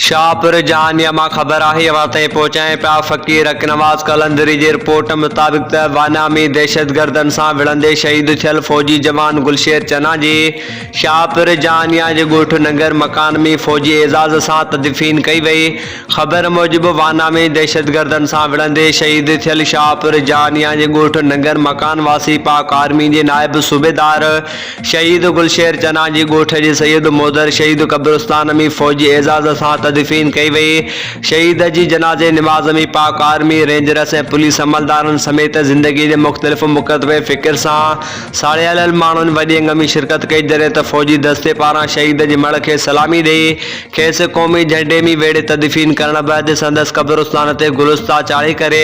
شاهپور جهانيء مان خبر آهي اوهان تائين پهچائين پيا فقير حق نواز قلندري جي رپورٽ مطابق ته وانا ۾ دهشتگردن سان وڙهندي شهيد ٿيل فوجي جوان گلشير چنا جي شاهپور جهانيا جي ڳوٺ ننگر مڪان ۾ فوجي اعزاز سان تدفين ڪئي وئي خبر موجب وانا ۾ دهشتگردن سان وڙهندي شهيد ٿيل شاهپور جهانيا جي ڳوٺ ننگر مڪان واسي پاڪ آرمي جي نائب صوبيدار شهيد گلشير چنا جي ڳوٺ جي سيد مودر شهيد قبرستان ۾ فوجي اعزاز سان تدفين ڪئي وئي. شهيد جي جنازي نماز ۾ پاڪ آرمي، رينجرس ۽ پوليس عملدارن سميت زندگي جي مختلف مڪتبه فڪر سان ساڙيلل ماڻهن وڏي انگ ۾ شرڪت ڪئي جڏهن ته فوجي دستي پاران شهيد جي مڙهه کي سلامي ڏئي کيس قومي جهنڊي ۾ ويڙهي تدفين ڪرڻ بعد سندس قبرستان تي گلستا چاڙهي ڪري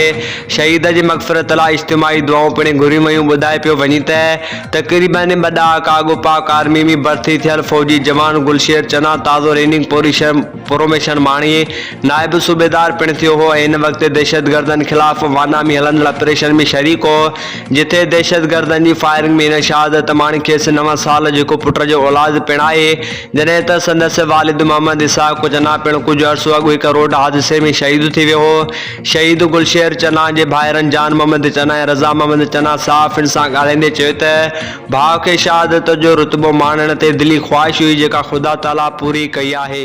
شهيد جي مغفرت لاء اجتماعي دعائون پڻ گهريون ويون ٻڌائي پيو وڃي ته تقريبن ٻه ڏهاڪا اڳ پاڪ آرمي ۾ ڀرتي ٿيل فوجي جوان گلشير چنا تازو ريننگ پوريشن پروميشن ماڻي نائب صوبيدار پڻ ٿيو هو ۽ ان وقت دهشتگردن خلاف وانا ۾ هلندڙ آپريشن ۾ شريڪ هو جتي دهشتگردن جي فائرنگ ۾ هن شهادت ماڻي کيس نو سال جو هڪ پٽ جو اولاد پڻ آهي جڏهن ته سندس والد محمد اسحاق چنا پڻ ڪجهه عرصو اڳ هڪ روڊ حادثي ۾ شهيد ٿي ويو هو. شهيد گل شير چنا جي ڀائرن جان محمد چنا ۽ رضا محمد چنا صاف ان سان ڳالهائيندي چيو ته ڀاء کي شهادت جو رتبو ماڻڻ تي دلي خواهش هئي جيڪا خدا تعاليٰ پوري ڪئي آهي.